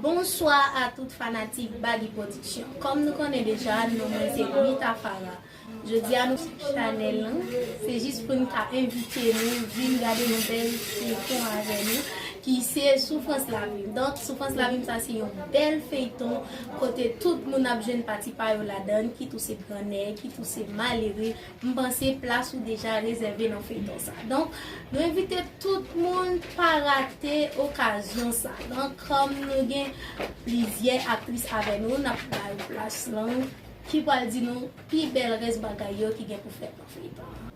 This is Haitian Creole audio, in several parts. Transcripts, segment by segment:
Bonswa a tout fanatik Bagy production Kòm nou konnen deja non mwen se Mita Farah Jodi a nou sou chanèl lan se jis pou n ka envite nou vin gade yon bèl feyton avè nou ki se Soufrans Lavi m Donk Soufrans Lavi m sa se yon bèl feyton kote tout moun ap jwenn pati pa yo ladan n kit ou se gran nèg kit ou se malere M panse plas ou deja rezève nan feyton sa donk nou envite tout moun pa rate okazyon sa donk kòm nou gen plizyè aktris avè nou nap bay ou plas lan ki pral di nou pi bèl rès bagay yo ki gen pou fèt nan feyton an.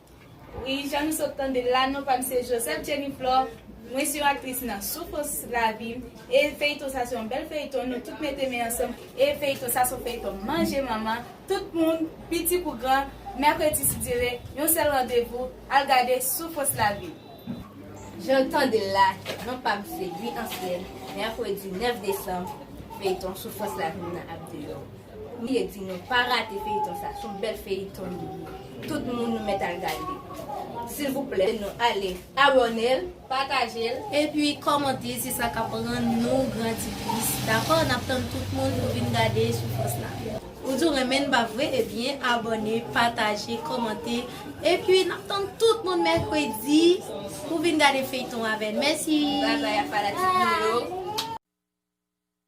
Wi jan nou sot tandel la non pam se Joseph Jenny Flore mwen se yon aktris nan soufrans lavim E feyton sa se yon bèl feyton nou tout mete men ansanm e feyton sa son feyton manje manman tout moun piti kou gran mèkredi sidyeve yon sèl randevou al gade sou fos lavi. Janw tandel la non pam se Guy Anselme mèkredi 9 desanm feyton sou fos lavi m nan ap deyò. Mye di nou pa rate feyiton sa son bèl feyiton li ye tout moun nou mèt al gade silvouplè nou ale abònel patajel epi kòmante se sa kap rann nou grandi plis dakò nap tann tout moun pou vin gade soufrans la. Ou di w renmen n pa vre ebyen abòne pataje kòmante epi nap tann tout moun mèkredi pou vin gade feyton avè n mèsi. Bye bye a fanatik nou yo.